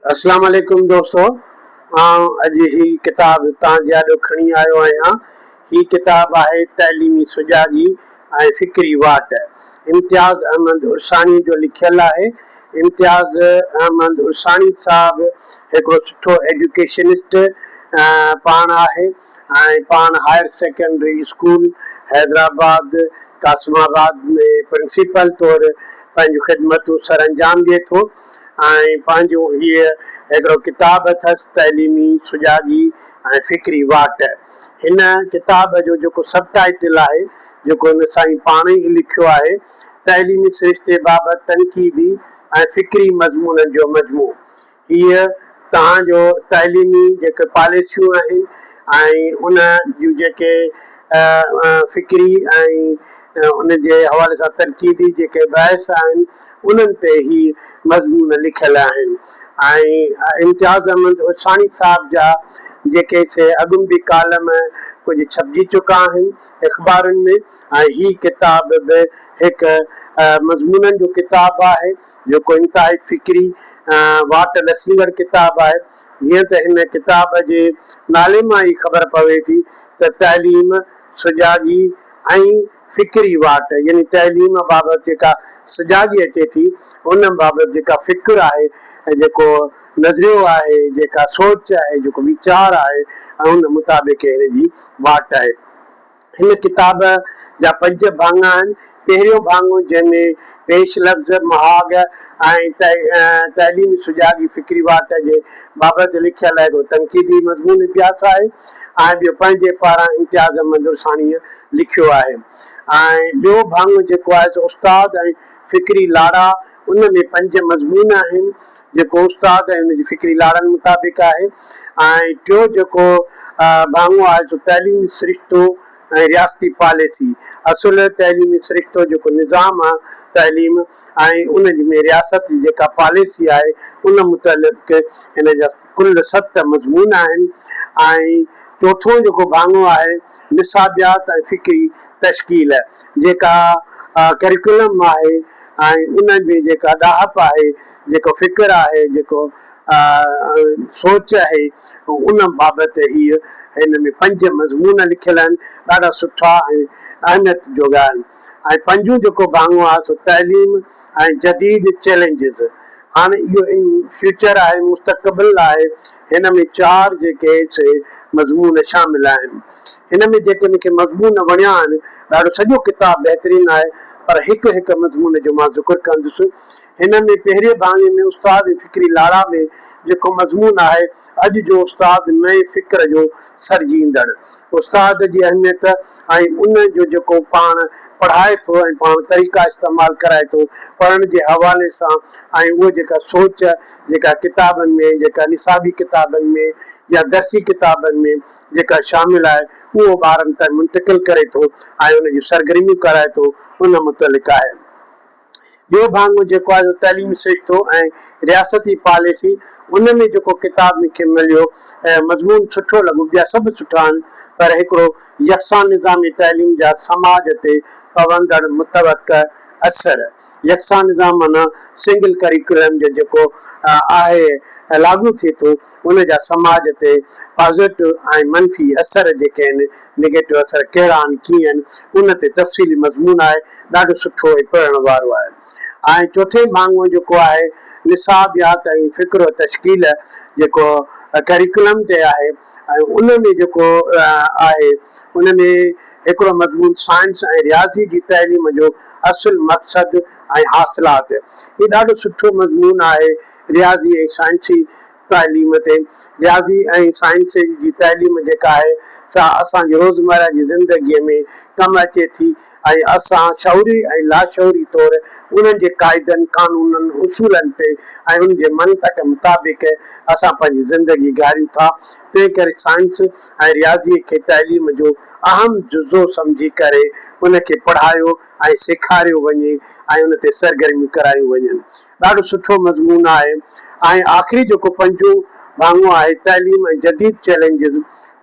اسلام عليڪم دوستو آئون اڄ هي ڪتاب توهان جي آڏو کڻي آيو آهيان هي ڪتاب آهي تعليمي سجاڳي ۽ فڪري واٽ امتياز احمد عرساڻي جو لکيل آهي امتياز احمد عرساڻي صاحب هڪڙو سٺو ايڊيوڪيشنسٽ پاڻ آهي ۽ پاڻ higher secondary school Hyderabad Qasimabad ۾ principal طور پنهنجون خدمتون سرانجام ڏئي ٿو ۽ پنهنجو هيء هڪڙو ڪتاب اٿس تعليمي سجاڳي ۽ فڪري واٽ. هن ڪتاب جو جيڪو سب ٽائيٽل آهي جيڪو هن سائين پاڻ ئي لکيو آهي تعليمي سرشتي بابت تنقيدي ۽ فڪري مضمونن جو مجموعو هيء توهان جو تعليمي جيڪي پاليسيون آهن ۽ ان جون جيڪي فڪري ۽ ان جي حوالي سان تنقيدي جيڪي بحث آهن انهن تي هي مضمون لکيل آهن ۽ امتياز احمد عرفاني صاحب جا جيڪي سي اڳم به ڪالم ڪجهه ڇپجي چڪا آهن اخبارن ۾ ۽ هي ڪتاب به هڪ مضمونن جو ڪتاب آهي. جيڪو انتهائي فڪري ۽ واٽ ڏسندڙ ڪتاب آهي. جيئن ته هن ڪتاب جي نالي مان ئي خبر پوي ٿي ته تعليم، سجاڳي ۽ فڪري واٽ يعني تعليم بابت جيڪا سجاڳي اچي ٿي، ان بابت جيڪا فڪر آهي ۽ جيڪو نظريو آهي، جيڪا سوچ آهي، جيڪو ويچار آهي ۽ ان مطابق هن جي واٽ آهي. هن ڪتاب جا پنج ڀاڱا آهن. پهريون ڀاڱو جنهن ۾ پيش لفظ، مهاڳ ۽ تعليمي سجاڳ جي فڪري واٽ جي بابت لکيل هڪڙو تنقيدي مضمون اڀياس آهي ۽ ٻيو پنهنجي پاران امتياز احمد درساڻيء لکيو آهي ۽ ٻيو ڀاڱو جيڪو آهي سو استاد ۽ فڪري لاڙا، ان ۾ پنج مضمون آهن، جيڪو استاد ۽ ان جي فڪري لاڙن مطابق آهي ۽ ٽيون جيڪو ڀاڱو آهي سو تعليمي سرشتو ۽ رياستي پاليسي، اصل تعليمي سرشتو جيڪو نظام آهي تعليم ۽ ان ۾ رياست جي جيڪا پاليسي آهي ان متعلق هن جا. ڪل ست مضمون آهن ۽ چوٿون جيڪو ڀاڱو آهي نصابيات ۽ فڪري تشڪيل جيڪا ڪريڪولم آهي ۽ ان ۾ جيڪا ڏاهپ آهي، جيڪو فڪر آهي، جيڪو سوچ آهي ان بابت هي هن ۾ پنج مضمون لکيل آهن ڏاڍا سٺا ۽ اهميت جوڳا آهن. ۽ پنجون جيڪو ڀاڱو آهي سو تعليم ۽ جديد چئلينجز. هاڻ اهو ان فيوچر آهي مستقبل آهي هن ۾ چار جيڪي سي مضمون شامل آهن. هن ۾ جيڪي مون کي مضمون وڻيا آهن ڏاڍو سڄو ڪتاب بهترين آهي پر هڪ هڪ مضمون جو مان ذڪر ڪندس. هن ۾ پهرين ڀاڱي ۾ استاد ۽ فڪري لاڙا ۾ جيڪو مضمون آهي. اڄ جو استاد نئين فڪر جو سرجيندڙ استاد جي اهميت ۽ ان جو جيڪو پاڻ پڙهائي ٿو ۽ پاڻ طريقا استعمال ڪرائي ٿو پڙهڻ جي حوالي سان ۽ اها جيڪا سوچ جيڪا ڪتابن ۾ جيڪا نصابي ڪتابن ۾ يا درسي ڪتابن ۾ جيڪا شامل آهي اهو ٻارن تائين منتقل ڪري ٿو ۽ ان جون سرگرميون ڪرائي ٿو ان متعلق آهي. ٻيو ڀاڱو جيڪو آهي سو تعليمي سرشتو ۽ رياستي پاليسي. ان ۾ جيڪو ڪتاب مون کي مليو ۽ مضمون سٺو لڳو، ٻيا سڀ سٺا آهن، پر هڪڙو يڪسان نظامي تعليم جا سماج تي پوندڙ متوقع اثر. يڪسان نظام معنيٰ سنگل ڪريڪولم جو جيڪو آهي لاڳو ٿئي ٿو، ان جا سماج تي پازيٽو ۽ منفي اثر جيڪي آهن، نيگيٽو اثر ڪهڙا آهن ڪيئن ان تي تفصيلي مضمون آهي، ڏاڍو سٺو ۽ پڙهڻ وارو آهي. ۽ چوٿين ڀاڱو جيڪو آهي نصابيات ۽ فڪر و تشڪيل جيڪو ڪريڪولم تي آهي ۽ ان ۾ جيڪو آهي ان ۾ هڪڙو مضمون سائنس ۽ رياضي جي تعليم جو اصل مقصد ۽ حاصلات هي ڏاڍو سٺو مضمون آهي. رياضي ۽ سائنسي تعليم تي رياضي ۽ سائنس جي تعليم جيڪا آهي سا اسان جي روزمره جي زندگي ۾ ڪم اچي ٿي ۽ اسان شعوري ۽ لاشعوري طور انهن جي قاعدن، قانونن، اصولن تي ۽ ان جي منطق مطابق اسان پنهنجي زندگي گهاريون ٿا تنهن ڪري سائنس ۽ رياضي کي تعليم جو اهم جزو سمجهي ڪري ان کي پڙهايو ۽ سيکاريو وڃي ۽ ان تي سرگرميون ڪرايون وڃن. ڏاڍو سٺو مضمون آهي ۽ آخري جيڪو پنجون ڀاڱو آهي تعليم ۽ جديد چئلينجز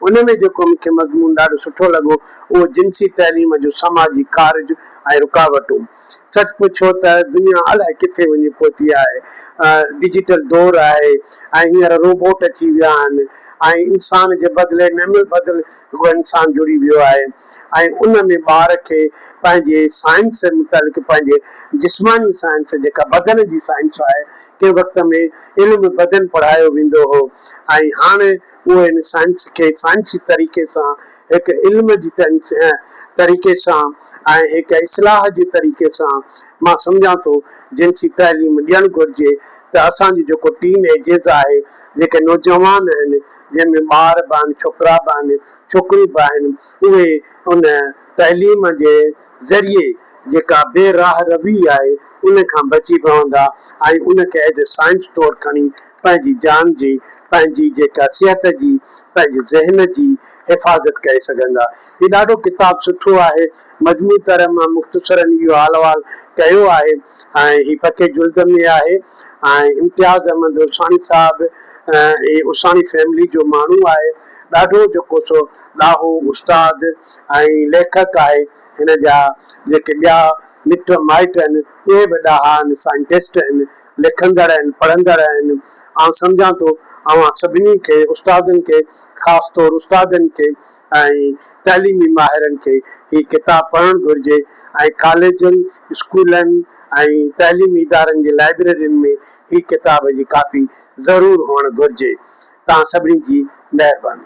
ان ۾ جيڪو مون کي مضمون ڏاڍو سٺو لڳو اهو جنسي تعليم جو سماجي ڪارج ۽ رڪاوٽون سچ پڇو ته دنيا الائي ڪٿي وڃي پهتي آهي ڊجيٽل دور آهي ۽ هينئر روبوٽ اچي ويا آهن ۽ انسان جي بدلي نعمل بدل هو انسان جڙي ويو آهي ۽ ان ۾ ٻار کي پنهنجي سائنس متعلق پنهنجي جسماني سائنس جيڪا بدن جي سائنس آهي ڪنهن وقت ۾ علم بدن پڙهايو ويندو هو ۽ هاڻ اهو ان سائنس کي سائنسي طريقي سان هڪ علم جي طريقي سان ۽ هڪ اصلاح جي طريقي سان مان سمجهان ٿو جنسي تعليم ڏيڻ گهرجي ته اسان جو جيڪو ٽين ايجز آهي جيڪي نوجوان آهن جنهن ۾ ٻار به آهن، ڇوڪرا به آهن، ڇوڪريون به آهن، اهي ان تعليم جي ذريعي جيڪا بي راهه روي آهي ان کان بچي پوندا ۽ ان کي ايز اي سائنس طور کڻي پنهنجي جان جي، پنهنجي جيڪا صحت جي، پنهنجي ذهن جي حفاظت ڪري سگهندا. هي ڏاڍو ڪتاب سٺو آهي. مجموعي طرح مان مختصراً اهو حال احوال ڪيو آهي ۽ هي پڪي جلد ۾ آهي ۽ امتياز احمد عرساڻي صاحب هي عرساڻي فيملي جو ماڻهو آهي. ڏاڍو جيڪو سو ڏاهو استاد ۽ ليکڪ آهي. هن جا جيڪي ٻيا مٽ مائٽ آهن اهي به ڏاها آهن، سائنٽسٽ آهن، لکندڙ آهن، پڙهندڙ آهن. آئون سمجهان ٿو اوهان سڀني کي استادن کي خاص طور استادن کي ۽ تعليمي ماهرن کي هي ڪتاب پڙهڻ گهرجي ۽ ڪاليجن، اسڪولن ۽ تعليمي ادارن جي لائبريرين ۾ هي ڪتاب جي ڪاپي ضرور هئڻ گهرجي. تان سڀني جي مهرباني.